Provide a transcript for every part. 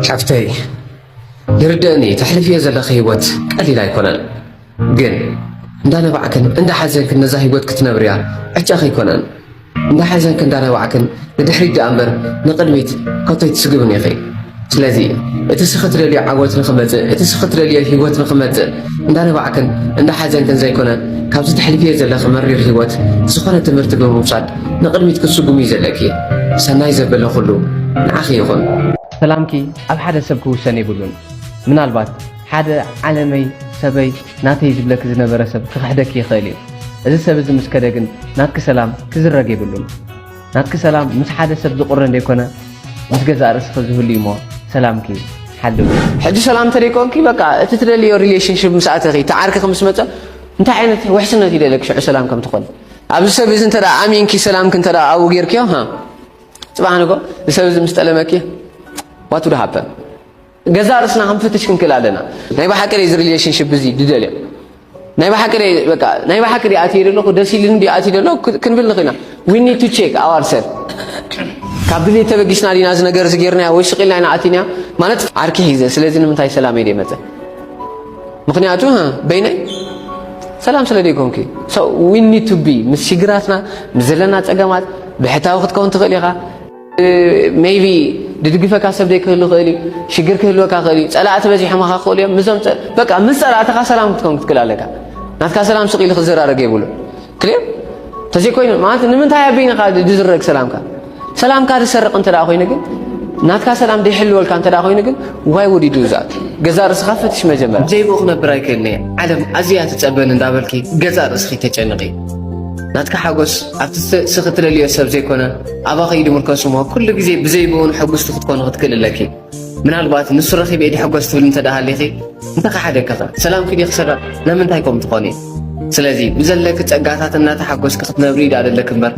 ሓፍተይ ይርደእኒ ተሕልፍዮ ዘለኺ ህይወት ቀሊል ኣይኮነን ግን እንዳነባዕክን እንዳሓዘንክን ነዛ ህይወት ክትነብርያ ዕጫኺ ኣይኮነን እንዳሓዘንክን እንዳነባዕክን ንድሕሪት ደኣ እምበር ንቕድሚት ከቶ ኣይትስግብን ኢኺ ስለዚ እቲ ስኺ ትደልዮ ዓወት ንኽመፅእ እቲ ስኺ ትደልዮ ህይወት ንኽመፅእ እንዳነባዕክን እንዳሓዘንክን ዘይኮነ ካብዚ ተሕልፍዮ ዘለኺ መሪር ሂወት ዝኾነ ትምህርቲ ብምውሳድ ንቕድሚት ክትስጉሚ እዩ ዘለኪ። ሰናይ ዘበለ ኩሉ ንዓኺ ይኹን። ሰላምኪ ኣብ ሓደ ሰብ ክውሰን የብሉን። ምናልባት ሓደ ዓለመይ፣ ሰበይ፣ ናተይ ዝብለኪ ዝነበረ ሰብ ክኽሕደኪ ይኽእል እዩ። እዚ ሰብ እዚ ምስ ከደ ግን ናትኪ ሰላም ክዝረግ የብሉን። ናትኪ ሰላም ምስ ሓደ ሰብ ዝቁረን ደይኮነ ምስ ገዛእ ርእስኺ ዝህሉ እዩሞ ሰላምኪ ሓልዊ። ሕጂ ሰላም እንተደይኮንኪ በቃ እቲ ትደልዮ ሪሌሽንሽፕ ምስ ኣተኺ እቲ ዓርክኺ ምስ መጸ እንታይ ዓይነት ውሕስነት ይደለኪ ሽዑ ሰላም ከም ትኾኒ ኣብዚ ሰብ እዚ እንተ ኣሚንኪ ሰላምኪ እንተ ኣብኡ ጌርክዮ ጽባሕ ንግሆ እዚ ሰብ እዚ ምስ ጠለመኪ ዋት ውድ ሃፐን ገዛእ ርእስና ክንፍትሽ ክንክእል ኣለና። ናይ ብሓቂ እዚ ሪሌሽንሽፕ እዚ ድደልዮ ናይ ብሓቂ በቃ ናይ ብሓቂ ድኣ ኣትየ ዘለኹ ደስ ኢሉኒ ድኣ ኣትየ ዘለኹ ክንብል ንኽእልና ዊ ኒድ ቱ ቼክ ኣዋር ሰልፍ ካብ ድሌት ተበጊስና ዲና እዚ ነገር እዚ ጌርናዮ ወይ ስቕ ኢልና ኢና ኣቲና ማለት ዓርኪ ሒዘ ስለዚ ንምንታይ ሰላመይ ደይመፀ ምክንያቱ በይነይ ሰላም ስለ ደይኮንኪ ዊ ኒድ ቱ ቢ ምስ ሽግራትና ምስ ዘለና ፀገማት ብሕታዊ ክትከውን ትኽእል ኢኻ ሜይቢ ድድግፈካ ሰብ ዘይክህሉ ክእል እዩ ሽግር ክህልወካ ክእል እዩ ፀላእቲ በዚሖምካ ክኽእሉ እዮም ምዞም በቃ ምስ ፀላእትኻ ሰላም ክትከውን ክትክእል ኣለካ ናትካ ሰላም ስቕ ኢሉ ክዘራረግ የብሉ ክልዮ ተዘይኮይኑ ማለት ንምንታይ ኣቢንኻ ድዝረግ ሰላምካ ሰላምካ ዝሰርቕ እንተ ኮይኑ ግን ናትካ ሰላም ደይሕልወልካ እንተ ኮይኑ ግን ዋይ ወዲዱ ዛት ገዛ ርእስኻ ፈትሽ መጀመር ዘይቦ ክነብር ኣይክእልን እየ ዓለም ኣዝያ ትፀበን እንዳበልኪ ገዛ ርእስኺ ተጨንቒ ናትካ ሓጎስ ኣብቲ ስኽትለልዮ ሰብ ዘይኮነ ኣባኺ ድምርከሱ እሞ ኩሉ ግዜ ብዘይ ብኡን ሕጉስቲ ክትኮኒ ክትክእሊ ኣለኪ ምናልባት ንሱ ረኺበ ድሕጎስ ትብሊ እንተ ሃሊኺ እንተኸሓደኪ ኸ ሰላምኪ ዲ ክስረቕ ለምንታይ ከምኡ ትኾኒ ስለዚ ብዘለኪ ጸጋታት እናተሓጎስኪ ክትነብሪ ድኣ ደለኪ እምበር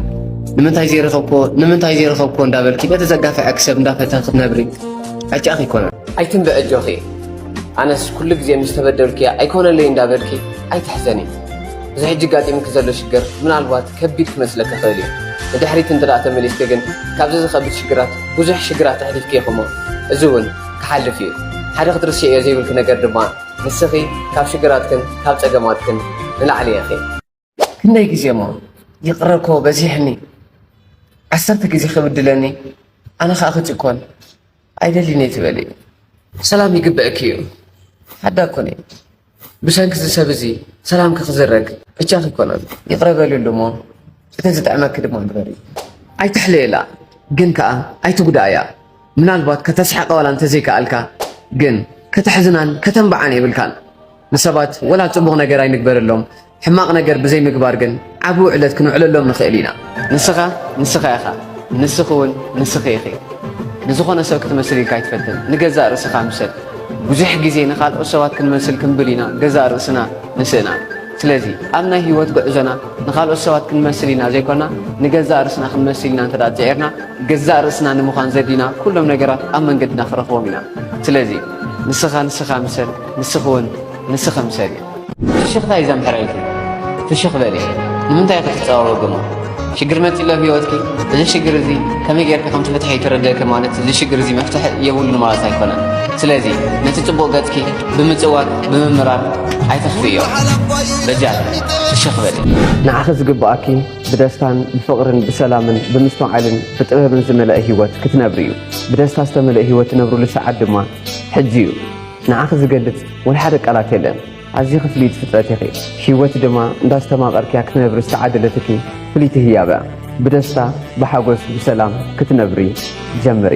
ንምንታይ ዘይረኸብክዎ ንምንታይ ዘይረኸብክዎ እንዳበልኪ ነቲ ዘጋፍዐኪ ሰብ እንዳፈተኺ ክትነብሪ ዕጫኺ ኣይኮነን ኣይትንብዕ ኣጆኺ ኣነስ ኩሉ ግዜ ምስ ተበደልኩ እያ ኣይኮነለይ እንዳበልኪ ኣይትሕዘኒ እዚ ሕጂ ኣጋጢሙኪ ዘሎ ሽግር ምናልባት ከቢድ ክመስለኪ ይኽእል እዩ። ንድሕሪት እንተድኣ ተመሊስኪ ግን ካብዚ ዝኸብድ ሽግራት ብዙሕ ሽግራት ኣሕሊፍኪ ኢኺ እሞ እዚ እውን ክሓልፍ እዩ። ሓደ ክትርስዕዮ ዘይብልኪ ነገር ድማ ንስኺ ካብ ሽግራትክን ካብ ጸገማትክን ንላዕሊ ኢኺ። ክንደይ ግዜ እሞ ይቕረ እኮ በዚሕኒ፣ ዓሰርተ ግዜ ክብድለኒ ኣነ ከኣ ክጭኮን ኣይደልን እየ ትበሊ። ሰላም ይግበእኪ እዩ ሓዳ ኮነ ብሰንኪ እዚ ሰብ እዚ ሰላምኪ ክዝረግ ብቻኺ ይኮነን ይቕረ በልሉ እሞ እቲ ዝጥዕመኪ ድማ ግበሪ ኣይትሕለየላ ግን ከዓ ኣይትጉዳእያ ምናልባት ከተስሕቃ ዋላ እንተዘይከኣልካ ግን ከተሕዝናን ከተንብዓን የብልካን ንሰባት ወላ ፅቡቕ ነገር ኣይንግበረሎም ሕማቕ ነገር ብዘይ ምግባር ግን ዓቢ ውዕለት ክንውዕለሎም ንኽእል ኢና። ንስኻ ንስኻ ኢኻ፣ ንስኺ እውን ንስኺ ኢኺ። ንዝኾነ ሰብ ክትመስል ኢልካ ኣይትፈትን፣ ንገዛእ ርእስኻ ምሰል። ብዙሕ ግዜ ንኻልኦት ሰባት ክንመስል ክንብል ኢና ገዛእ ርእስና ንስእና። ስለዚ ኣብ ናይ ህይወት ጉዕዞና ንኻልኦት ሰባት ክንመስል ኢና ዘይኮና ንገዛእ ርእስና ክንመስል ኢና እንተ ጽዒርና ገዛእ ርእስና ንምዃን ዘድልዩና ኩሎም ነገራት ኣብ መንገድና ክረኽቦም ኢና። ስለዚ ንስኻ ንስኻ ምሰል፣ ንስኺ እውን ንስኺ ምሰሊ። ፍሽኽታይ ዘምሕረልኪ ፍሽኽ በሊ ንምንታይ ኢኺ ትጻወዊ ግሞ ሽግር መጺሎ ኣብ ሂወትኪ እዚ ሽግር እዚ ከመይ ጌርኪ ከም ትፍትሒ ይተረድእኪ ማለት እዚ ሽግር እዚ መፍትሒ የብሉን ማለት ኣይኮነን ስለዚ ነቲ ጽቡቕ ገጽኪ ብምጽዋት ብምምራር ኣይተኽፍዮ በጃ ፍሽኽ በሊ ንዓኺ ዝግብኣኪ ብደስታን ብፍቕርን ብሰላምን ብምስትውዓልን ብጥበብን ዝመልአ ሂወት ክትነብሪ እዩ ብደስታ ዝተመልእ ሂወት ትነብርሉ ሰዓት ድማ ሕጂ እዩ። ንዓኺ ዝገልጽ ወይ ሓደ ቃላት የለን ኣዝዪ ክፍልይቲ ፍጥረት ኢኺ ሂወት ድማ እንዳስተማቀርክያ ክትነብሪ ዝተዓደለትኪ ፍልይቲ ህያብ እያ ብደስታ ብሓጎስ ብሰላም ክትነብሪ ጀምሪ።